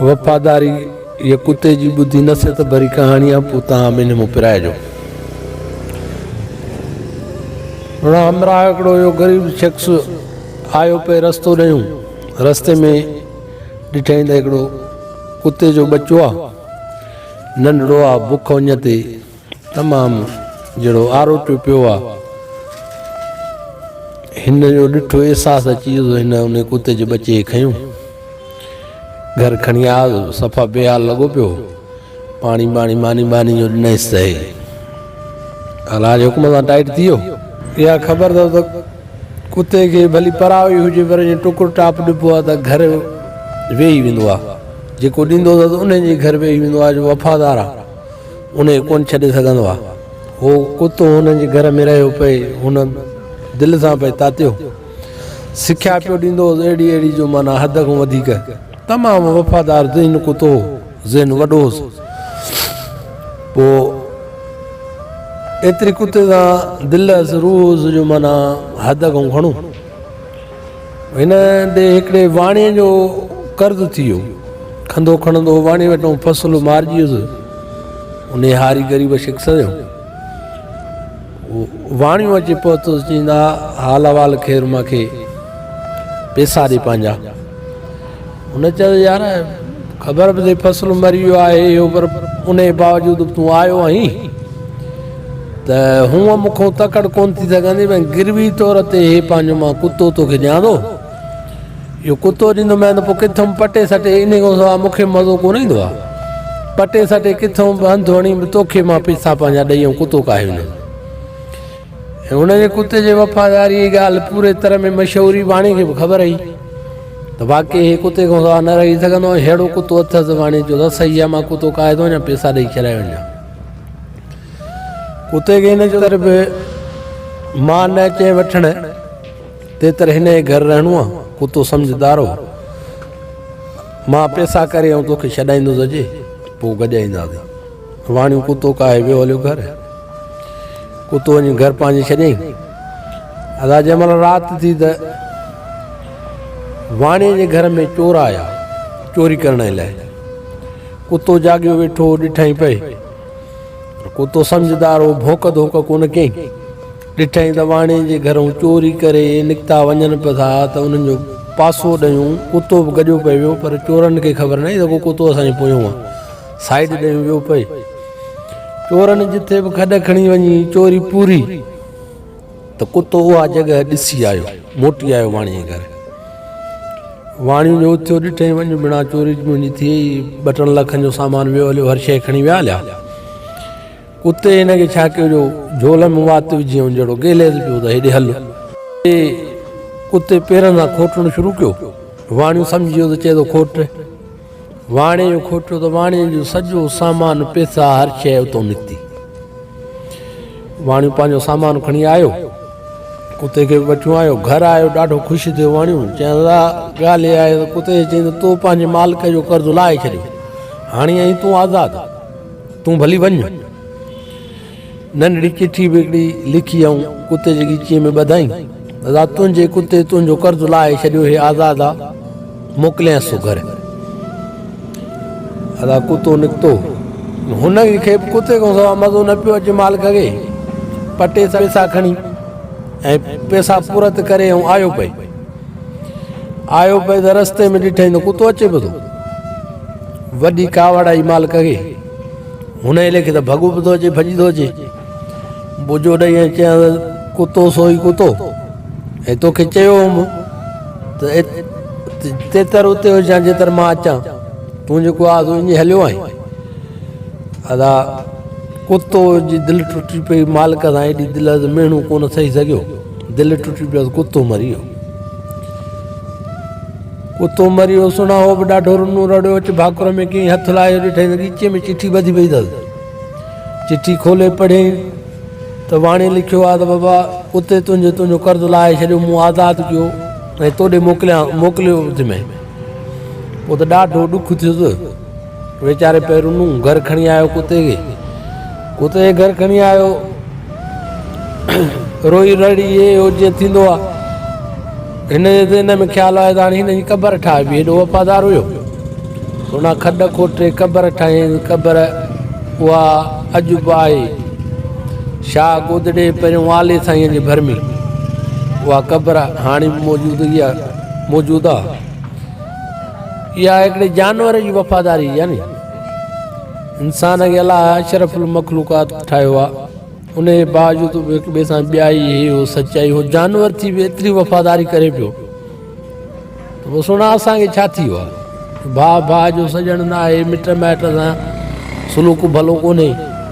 وفاداري يا ڪتي جي ٻڌي نصيحت ڀري ڪهاڻي آ پو تان منهن مون پرائجو هن همراهه هڪڙو يو غريب شخص آيو پي رستو ڏيون رستي ۾ ڏٺائين ته هڪڙو ڪتي جو ٻچو آ ننڍڙو آ بک وڃ تي تمام جهڙو آروٽيو پيو آ. هن جو ڏٺو احساس اچي ويو ته هن انهي ڪتي جي ٻچي کي کنيو. گهر کڻي آيو صفا بي حال لڳو پيو هو. پاڻي ٻاڻي ماني ٻاني جو ڏنائينس ته هي الله جي حڪم سان ٽائيٽ ٿي ويو. اها خبر اٿو ته ڪتي کي ڀلي پرايو ئي هجي پر جي ٽڪر ٽاپ ڏبو آ ته گهر ويهي ويندو آ. جيڪو ڏيندو اٿس انهي جي گهر ويهي ويندو آ جو وفادار آ. ان کي ڪونه ڇڏي سگهندو آهي. هو ڪتو هن جي گهر ۾ رهيو پئي هن دل سان پئي تاتيو. سکيا پيو ڏيندو هوس اهڙي اهڙي جو معنيٰ حد کان وڌيڪ. تمام وفادار ذهين ڪتو هو. ذهن وڏو هوس. پوء ايتري ڪتي سان دل هوس روح هوس جو معنيٰ حد کان گهڻو. هن ڏي هڪڙي واڻيي جو قرض ٿي ويو. کنڌو کڻندو واڻيي وٽون فصل مارجي ويس. انهيء هاري غريب شخص سيو. واڻيو اچي پهتس چين ها حال احوال خير مان کي پيسا ڏي پنهنجا. هن چيس يار خبر به اٿئي فصل مري ويو آهي اهو پر انهي باوجود به تون آيو آهين ته هونء مون کان تڪڙ ڪونه ٿي سگهندي ۽ گروي طور تي هي پنهنجو مان ڪتو توکي ڏيان ٿو اهو ڪتو ڏيندومانء ته پوء ڪٿم پٽي سٽي انهي کان سواء مون کي مزو ڪونه ايندو آهي پٽي سٽي ڪٿم به هنڌ وڻي به توکي مان پئسا پنهنجا ڏئي ۽ ڪتو ڪاهي وڃان هن جي ڪتي جي وفاداريء جي ڳالهه پوري تر ۾ مشهوري واڻي کي به خبر هئي ته واقعي هي ڪتي کان سوا نه رهي سگهندو ۽ ههڙو ڪتو اٿس واڻي جو رس هي مان ڪتو ڪاهي ٿو وڃان پيسا ڏئي چرائي وڃان ڪتي کي هن تر به مان نه اچي وٺڻ تي تر هن جي گهر رهڻو آ ڪتو سمجهدار هو مان پيسا ڪري ۽ توکي ڇڏائيندو سجي پوء گڏجائينداسين واڻيو ڪتو ڪاهي ويو هليو گهر ڪتو وڃي گهر پنهنجي ڇڏيائين ادا جنهن مهل رات ٿي ته واڻيء جي گهر ۾ چور آيا چوري ڪرڻ لاء ڪتو جاڳيو ويٺو ڏٺائين پئي ڪتو سمجھدار هو ڀوڪ ڌوڪ ڪونه ڪيائين ڏٺائين ته واڻي جي گھرون چوري ڪري نڪتا وڃن پيا ٿا ته انهن جو پاسو ڏيون ڪتو به گڏيو پئي ويو پر چورن کي خبر نه آهي ته ڪتو اسان جي پويون آهي سائيڊ ڏي ويو پئي چورن جتي به کڏ کڻي وڃي چوري پوري ته ڪتو اها جڳهه ڏسي آيو موٽي آيو واڻي گهر واڻي جو اٿيو ڏٺائين وڃ بنا چوري منهنجي ٿي ٻه ٽن لکن جو سامان ويو هليو هر شيء کڻي ويا هليا اتي هن کي ڇا ڪيو جو جھول ۾ وات وجھي ۽ جهڙو گيليز پيو ته هيڏي هل اتي پيرن سان کوٽڻ شروع ڪيو واڻيو سمجھي ويو ته چئي ٿو کوٽ واڻي جو کوٽو ته واڻي جو سڄو سامان پيسا هر شيء اتو نڪتي واڻيو پنهنجو سامان کڻي آيو ڪتي کي وٺيو آيو گهر آيو ڏاڍو خوش ٿيو واڻيو چيائين ڳالهه آهي ته ڪتي چيائين ته تو پنهنجي مالڪ جو قرض لاهي ڇڏيو هاڻي ائين تون آزاد تون ڀلي وڃ ننڍڙي چٺي به هڪڙي لکي ائون ڪتي جي ڳچيء ۾ ٻڌائين، ادا تنهنجي ڪتي تنهنجو قرض لاهي ڇڏيو هي آزاد آ، موڪلينس ٿو گهر. ادا ڪتو نڪتو. هن کي به ڪتي کان سوا مزو نه پيو اچي مالڪ کي پٽيس پئسا کڻي ۽ پئسا پورت ڪري ائون آيو پئي. آيو پئي ته رستي ۾ ڏٺئين ته ڪتو اچي پيو ٿو. وڏي ڪاوڙ آئي مالڪ کي. هن ايلي کي ته ڀڳو به ٿو اچي ڀڄي ٿو اچي بوجو ڏئي ۽ چيان ڪتو سوئي ڪتو ۽ توکي چيو هوم ته تيتر اتي هجان جيتر مان اچان تون جيڪو آهي سو اڃي هليو آهين ادا ڪتو جي دل ٽٽي پئي مالڪ سان ايڏي دل از مهڻو ڪونه سهي سگهيو دل ٽٽي پيس ڪتو مري ويو ڪتو مريو سڻا هو به ڏاڍو رنو رڙيو اچ ڀاڪر ۾ ڪيئي هٿ لاهيو ڏٺئين ته ڳچيء ۾ چٺي ٻڌي پئي اٿس چٺي کولي پڙهين ته واڻي لکيو آ ته بابا ڪتي تنهنجو تنهنجو قرض لاهي ڇڏيو مون آزاد ڪيو ۽ توڏي موڪليان موڪليو اٿ ۾ پوء ته ڏاڍو ڏک ٿيس ويچاري پيرون نون گهر کڻي آيو ڪتي کي ڪتي کي گهر کڻي آيو روئي رڙي اي او جي ٿيندو آ هن جي ذهن ۾ خيال آيو ته هاڻي هن جي قبر ٺاهبي هيڏو وفادار هيو سونا کڏ کوٽي قبر ٺاهي قبر اها اڄ به آهي شاهه گودڙي پهريون والي سائين جي ڀرمي اها قبر هاڻي به موجود هي موجود آ اها هڪڙي جانور جي وفاداري يعني انسان کي الله اشرف المخلوقات ٺاهيو آ ان جي باوجود هڪ ٻئي سان ٻيائي هي هو سچائي هو جانور ٿي به ايتري وفاداري ڪري پيو ته سنا اسان کي ڇا ٿي ويو آ ڀاء ڀاء جو سڄڻ نه آهي مٽ مائٽ سان سلوڪ ڀلو ڪونهي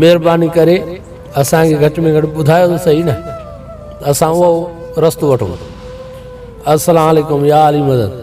مھرباني ڪري اسان کي گھٽ ۾ گھٽ ٻڌايو ته صحيح نه اسان اھو رستو وٺون السلام عليڪم يا علي مدد.